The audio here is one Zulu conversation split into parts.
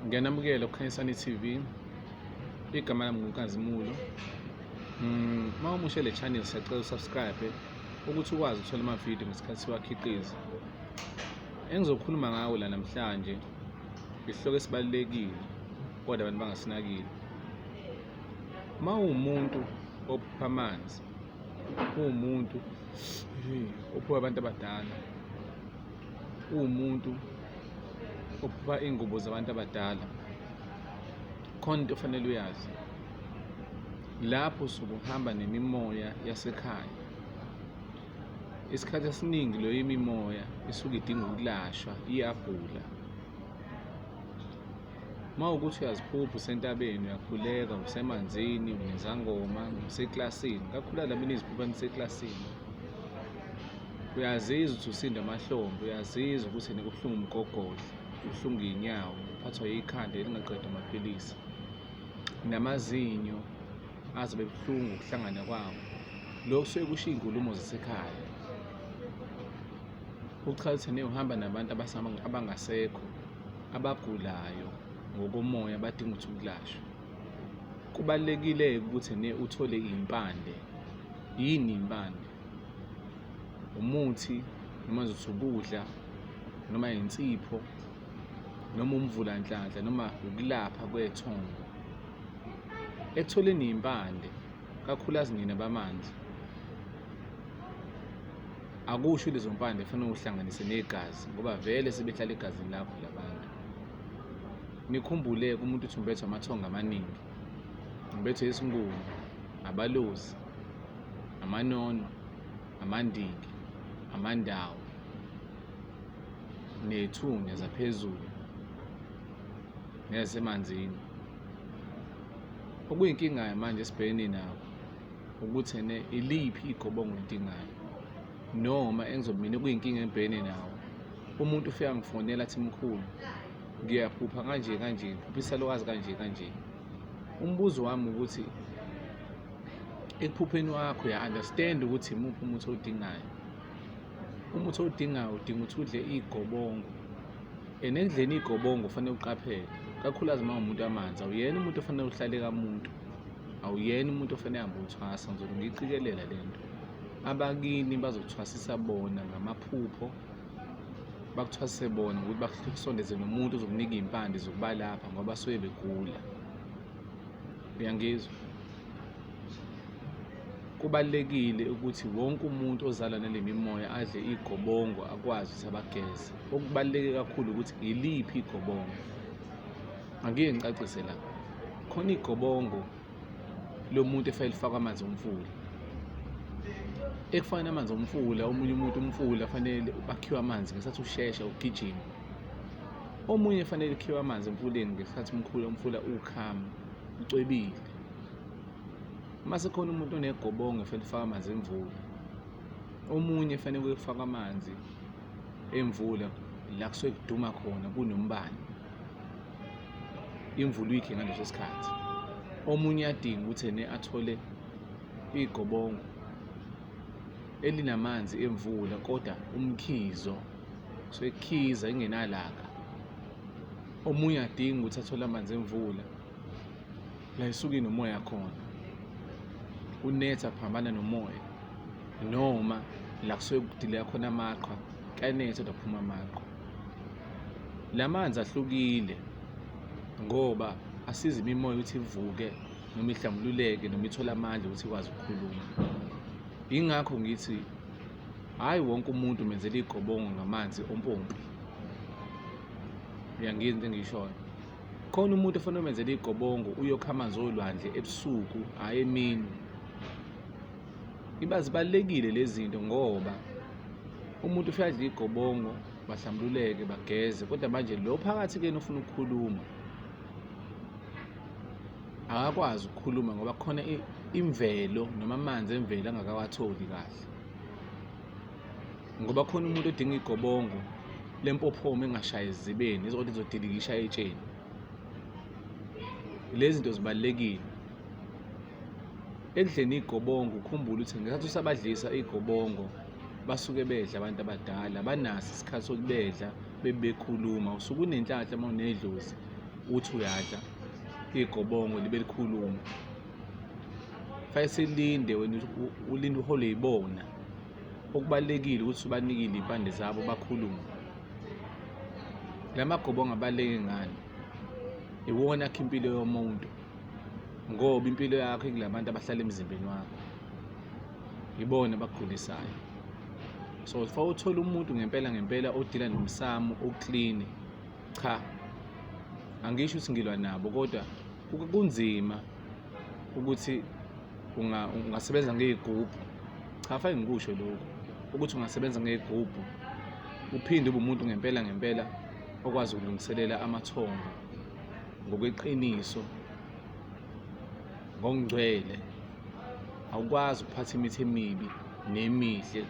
ngiyanamukela kukhanyisani TV igama lami nguNkazimulo mm, uma umushe le channel siyacela usubscribe ukuthi ukwazi ukuthola amavidiyo ngesikhathi siwakhiqiza engizokhuluma ngawo la namhlanje isihloko esibalulekile kodwa abantu bangasinakile uma uwumuntu ophupha amanzi uwumuntu ophupha abantu abadala uwumuntu ophupha iy'ngubo zabantu abadala khona into ofanele uyazi lapho usuke uhamba nemimoya yasekhaya isikhathi esiningi leyo imimoya isuke idinga ukulashwa iyagula uma ukuthi uyaziphupha usentabeni uyakhuleka usemanzini unezangoma useklasini kakhula la mina iziphupha niseklasini uyazizwa ukuthi usinda amahlombe uyazizwa ukuthi nikubuhlungu umgogodla ubuhlungu iy'nyawo uphathwa yikhanda elingaqeda amaphilisi namazinyo azobe buhlungu ukuhlangana kwawo lokhu suke kusho iy'nkulumo zasekhaya uchaza ukuthi uhamba nabantu abangasekho abagulayo ngokomoya badinga ukuthi ukulashwa kubalulekile ukuthi ne uthole impande yini impande umuthi noma zothi ukudla noma insipho noma umvulanhlanhla noma ukulapha kwethongo ekutholeni impande kakhulu azingene bamanzi akusho lezo mpande fanele uhlanganise negazi ngoba vele sebehlala egazini lakho labantu nikhumbule kumuntu uthi umbethwe amathongo amaningi umbethwe isingubo abalozi amanono amandiki amandawo nethunya zaphezulu neyasemanzini okuyinkingayo manje esibhekene nawo ukuthi ene iliphi igobo engilidingayo noma engizobe mina kuyinkinga engibhekene nawo umuntu ufika ngifonela athi mkhulu ngiyaphupha kanje kanje ngiphupha isalukazi kanje kanje umbuzo wami ukuthi ekuphupheni wakho uya-understand ukuthi imuphi umuthi owudingayo umuthi owudingayo udinga ukuthi udle iy'gobongo and ekudleni iy'gobongo kufanele uqaphele kakhulukazi uma umuntu amanzi awuyena umuntu ofanele uhlale kamuntu awuyena umuntu ofanele hambe uthwasa ngizobe ngiyiqikelela le nto abakini bazothwasisa bona ngamaphupho bakuthwasise bona ngokuthi bakusondeze nomuntu uzokunika iy'mpande zokubalapha ngoba basuke begula uyangizwa Kubalulekile ukuthi wonke umuntu ozalwa nale mimoya adle igobongo akwazi ukuthi abageze. Okubaluleke kakhulu ukuthi iliphi igobongo. Angike ngicacise la. Khona igobongo lomuntu efanele lifakwe amanzi omfula. Ekufakeni amanzi omfula, omunye umuntu umfula fanele bakhiwe amanzi ngesikhathi ushesha ugijima. Omunye fanele kukhiwe amanzi emfuleni ngesikhathi umkhulu umfula ukhama, ucwebile. uma sekhona umuntu onegobongo efanele ufaka amanzi emvula omunye efanele kuyofaka amanzi emvula la kusuke kuduma khona kunombani imvula uyikhe ngaleso sikhathi omunye uyadinga ukuthi ene athole igobongo elinamanzi emvula kodwa umkhizo sekukhiza ingenalaka omunye adinga ukuthi athole amanzi emvula la isuke inomoya khona unetha phambana nomoya noma la kusuke kudileka khona amaqhwa kuyanetha kodwa kuphuma amaqhwa la manzi ahlukile ngoba asiza imimoya ukuthi ivuke noma ihlambululeke noma ithole amandla ukuthi ikwazi ukukhuluma yingakho ngithi hhayi wonke umuntu menzela igobongo ngamanzi ompompi uyangini into engishoyo khona umuntu ofanele umenzele igobongo uyokha amanzi olwandle ebusuku hhayi emini iba zibalulekile lezi zinto ngoba umuntu ufike adle igobongo bahlambululeke bageze kodwa manje lo phakathi kena ufuna ukukhuluma akakwazi ukukhuluma ngoba khona imvelo noma amanzi emvelo angakawatholi kahle ngoba khona umuntu odinga igobongo lempophomo engashayi ezibeni izokwathi izodilikisha etsheni lezi zinto zibalulekile ekudleni igobongo ukhumbule ukuthi ngesikhathi usabadlisa igobongo basuke bedla abantu abadala banaso isikhathi sokubedla bebekhuluma usuke unenhlanhla uma unedlozi uthi uyadla igobongo libe likhuluma fanele silinde wena ulinde uhole yibona okubalulekile ukuthi ubanikile iy'mpande zabo bakhulume la magobongo abaluleke ngani iwona akho impilo yomuntu ngoba impilo yakho ikula bantu abahlala emzimbeni wakho yibona abakugulisayo so fa uthole umuntu ngempela ngempela odila nomsamo oclean cha angisho ukuthi ngilwa nabo kodwa kunzima ukuthi ungasebenza ngey'gubhu cha fake ngikusho lokhu ukuthi ungasebenza ngey'gubhu uphinde ube umuntu ngempela ngempela okwazi ukulungiselela amathongo ngokweqiniso ngokungcwele awukwazi ukuphatha imithi emibi nemihle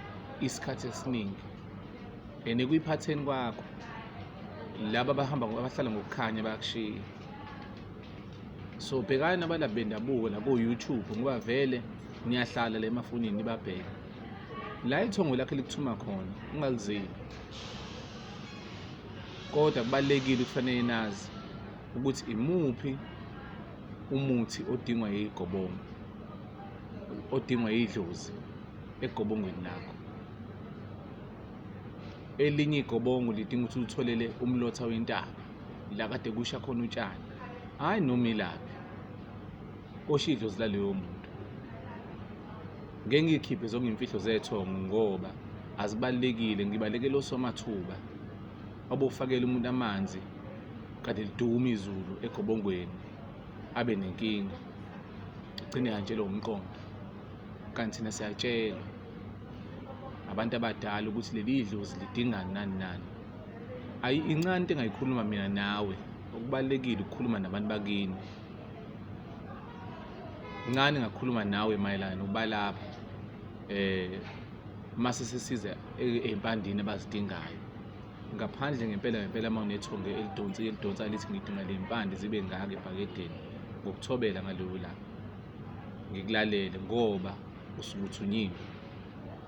isikhathi esiningi and ekuyiphatheni kwakho laba abahamba abahlala ngokukhanya bayakushiya so bhekani abalaphi bendabuko la ko-youtube ngoba vele niyahlala la emafonini nibabheke la ithongo lakhe likuthuma khona ungalizeli kodwa kubalulekile ukufanele nazi ukuthi imuphi umuthi odingwa yigobongo odingwa yidlozi egobongweni lakho elinye igobongo lidinga ukuthi ulitholele umlotha wentaba la kade kusha khona utshani hhayi noma ilaphi koshidlo zilaleyo muntu ngeke ngikhiphe zonke imfihlo zethongo ngoba azibalekile ngibalekele osomathuba obofakela umuntu amanzi kade liduma izulu egobongweni abe nenkinga gcine kanjelo umqondo kanti thina siyatshelwa abantu abadala ukuthi leli dlozi lidingani nani nani ayi incane into engayikhuluma mina nawe okubalulekile ukukhuluma nabantu bakini incane ngakhuluma nawe mayelana nokubalapha eh uma sesisiza e-, ey'mpandini abazidingayo ngaphandle ngempela ngempela uma unethonge elidonsi elidonsa lithi ngidinga le mpande zibe ngaka ebhakedeni ngokuthobela ngaloyo langa ngikulalele ngoba usukuthunyiwe